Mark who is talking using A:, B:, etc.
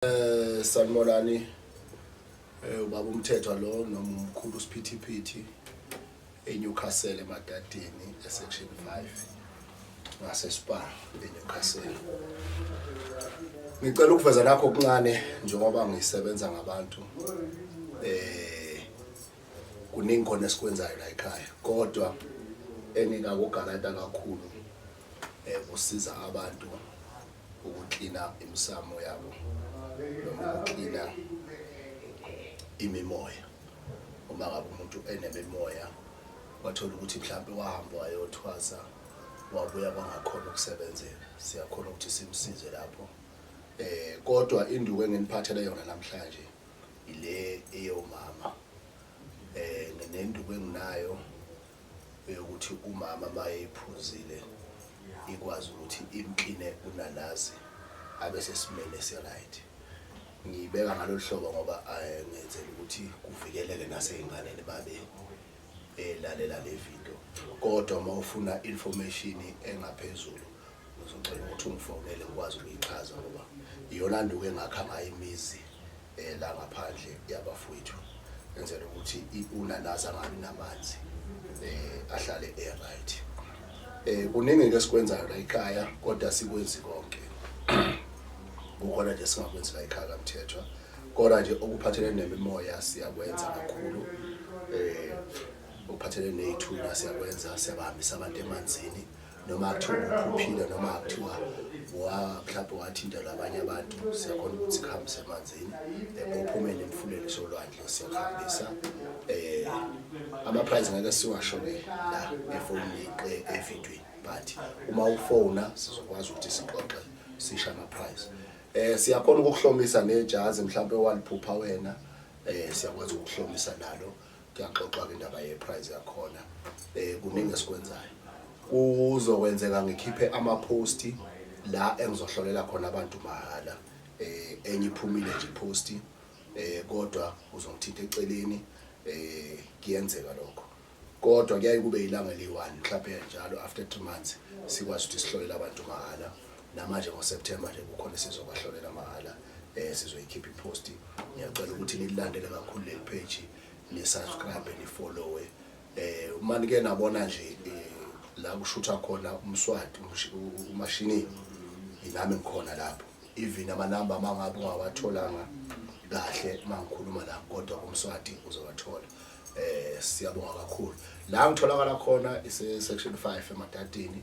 A: Eh sanibonani. Eh ubaba umthethwa lo noma umkhulu usiphithiphithi eNewcastle eMadadeni esection 5 ngase Spa eNewcastle. Ngicela ukuveza nakho okuncane njengoba ngisebenza ngabantu. Eh kuningi khona esikwenzayo la ekhaya kodwa engikakugalata kakhulu eh usiza abantu ukuklina imisamo yabo noma ukuklina imimoya uma ngabe umuntu enemimoya wathola ukuthi mhlawumbe wahamba wayothwasa wabuya kwangakhona ukusebenzela siyakhona ukuthi simsize lapho eh kodwa induku enginiphathele yona namhlanje ile eyomama eh nenduku enginayo eyokuthi umama mayeyiphuzile ikwazi ukuthi imkline unanazi abe sesimeni esiright ngiyibeka ngalolu hlobo ngoba eh, ngenzela ukuthi kuvikeleke naseyinganeni babe elalela le video kodwa uma ufuna information engaphezulu ngizocela ukuthi ungifonele ngikwazi ukuyichaza ngoba iyona nduku engakha ngayo imizi eh, la ngaphandle yabafowethu enzela ukuthi unanazi angabi namanzi um ahlale e-right um kuningi-ke esikwenzayo la ikhaya kodwa sikwenzi konke kukhona nje singakwenzi la ikhaya kamthethwa kodwa nje okuphathelene nemimoya siyakwenza kakhulu um okuphathelene ney'thunywa siyakwenza siyabahambisa abantu emanzini um noma kuthiwa ukhuphile noma kuthiwa mhlawumbe wathinta labanye abantu siyakhona ukuthi kuhambise emanzini ngophumele emfuleni solwandle siyakuhambisa um ama-prize ngeke siwasho-ke la efonini evidweni but uma ufona sizokwazi ukuthi sixoxe sisha ama-prize um siyakhona ukukuhlomisa nejazi mhlawumpe waliphupha wena um siyakwazi ukukuhlomisa nalo kuyaxoxwa-ke indaba ye-prize yakhona um kuningi esikwenzayo kuzokwenzeka ngikhiphe amaphosti la engizohlolela khona abantu mahhala eh enye iphumile nje post eh kodwa uzongithinta eceleni eh kuyenzeka lokho kodwa kuyaye kube ilanga eliyi-1 mhlawumbe njalo after 3 months sikwazi ukuthi sihlolela abantu mahhala namanje ngoSeptember nje kukhona esizobahlolela mahhala eh sizoyikhipha ipost ngiyacela ukuthi nilandele kakhulu le page ni subscribe ni follow eh uma nike nabona nje eh, la kushutha khona umswati umashini inami ngikhona lapho even amanamba mangabe ungawatholanga kahle mangikhuluma la kodwa umswati uzowathola eh siyabonga kakhulu la ngitholakala khona ise section 5 eMatatini